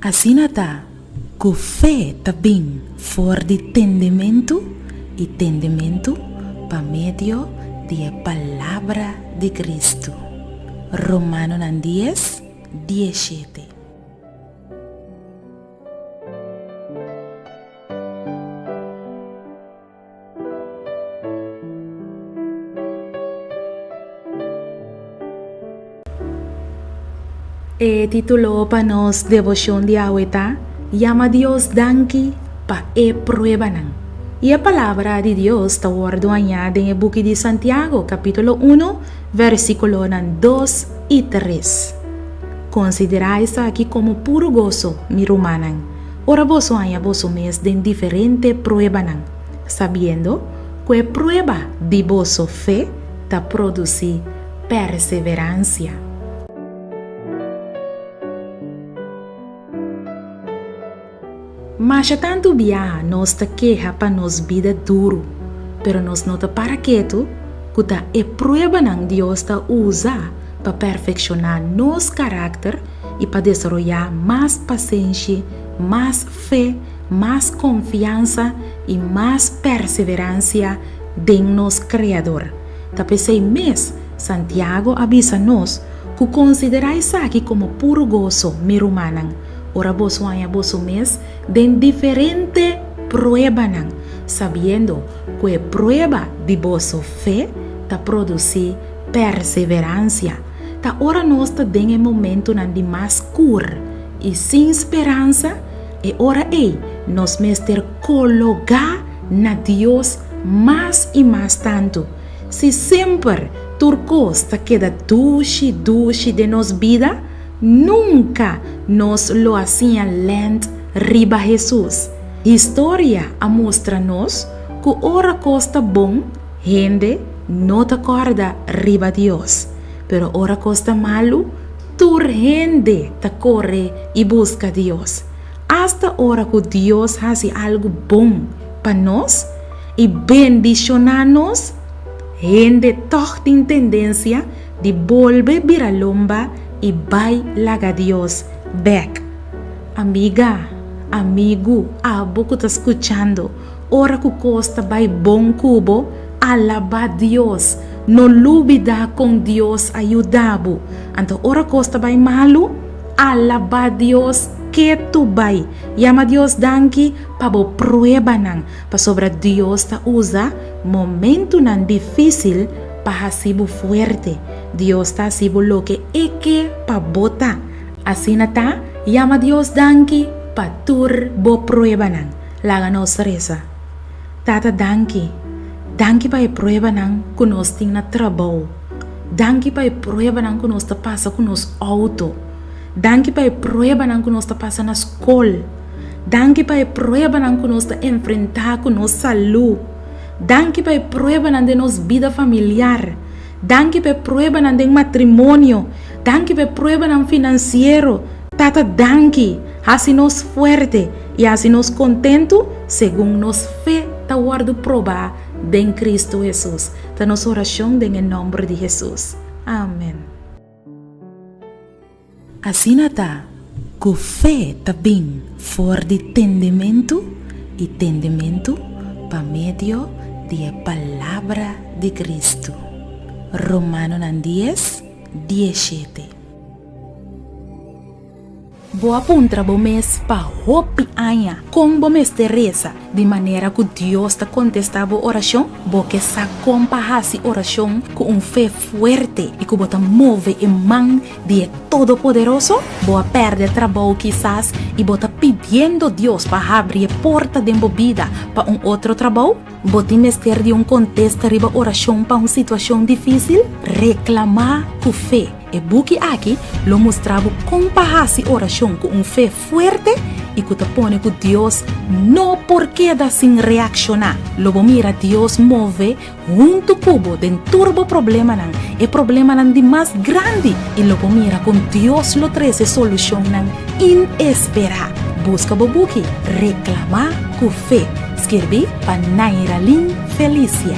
Asina ta, ku fe ta bin for di tendementu, i tendementu pa medio di e palabra di Kristu. Romanonan dies, die shete. E título pa nos devoshon di awe ta Yama Dios danki pa e pruebanan. I e palabra di Dios ta wòrdu añá den e buki di Santiago kapítulo 1, vèrsikulonan 2 i 3. Konsiderá esaki komo puru goso, mi rumannan, Ora boso haña boso mes den diferente pruebanan, sabiendo ku e prueba di boso fe ta produsí perseveransia. Masha tantu biaha nos ta keha pa nos bida duru, pero nos no ta para ketu ku ta e pruebanan Dios ta usa pa perfekshoná nos karakter i pa desaroyá mas pasenshi, mas fe, mas konfiansa i mas perseveransia den nos Kreador. Ta p'esei mes Santiago a bisa nos ku, Konsiderá esaki komo puru goso, mi rumannan, ora boso haña boso mes den diferente pruebanan, sabiendo ku e prueba di boso fe ta produsí perseveransia. ta ora nos ta den e momentunan di mas kur i sin speransa, e ora ei nos mester kologá na Dios mas i mas tantu. Si semper tur kos ta keda dushi dushi den nos bida, nunka nos lo a siña lènt riba Hesus. Historia a mustra nos ku ora kos ta bon, Hende no ta kòrda riba Dios, pero ora kos ta malu, tur hende ta kore i buska Dios. Asta ora ku Dios hasi algu bon pa nos i bendishoná nos, hende tòg tin tendensia di bolbe bira lomba i bai laga Dios bèk. Amiga, amigu, abo ku ta skuchando, Ora ku kos ta bai bon ku bo, alabá Dios. No lubidá kon Dios a yuda bo. Anto ora kos ta bai malu, alabá Dios ke tur bai. Yama Dios danki pa bo pruebanan, pasobra Dios ta usa momentunan difísil pa hasi bo fuerte. Dios ta hasi bo loke e ke pa bo ta. Asina ta, yama Dios danki pa tur bo pruebanan. Laga nos resa. Tata danki, danki pa e pruebanan ku nos tin na trabou, danki pa e pruebanan ku nos ta pasa ku nos outo, danki pa e pruebanan ku nos ta pasa na skol, danki pa e pruebanan ku nos ta enfrentá ku nos salú, danki pa e pruebanan den nos bida familiar, danki pa e pruebanan den matrimonio, danki pa e pruebanan finansiero. Tata danki, hasi nos fuerte. I hasi nos kontentu segun nos fe ta wòrdu probá den Kristu Hesus. Ta nos orashon den e nòmber di Hesus. Amen. Asina ta, ku fe ta bin for di tendementu, i tendementu pa medio di e palabra di Kristu. Romanonan dies, dies shete. Bo a puntra bo mes pa hopi aña kon bo mester resa di manera ku Dios ta kontestá bo orashon? Bo ke sa kon pa hasi orashon ku un fe fuerte i ku bo ta move e man di e Todopoderoso? Bo a pèrdè trabou kisas i bo ta pidiendo Dios pa habri e porta den bo bida pa un otro trabou? Bo tin mester di un kontesta riba orashon pa un situashon difísil? Reklamá ku fe. E buki aki lo mustra bo kon pa hasi orashon ku un fe fuerte i ku ta pone ku Dios no por keda sin reakshoná. Lo bo mira Dios move huntu ku bo den tur bo problemanan, e problemanan di mas grandi, i lo bo mira kon Dios lo trese solushonnan inesperá. Buska bo buki Reklamá ku fe, skirbí pa Nairalyn Felicia.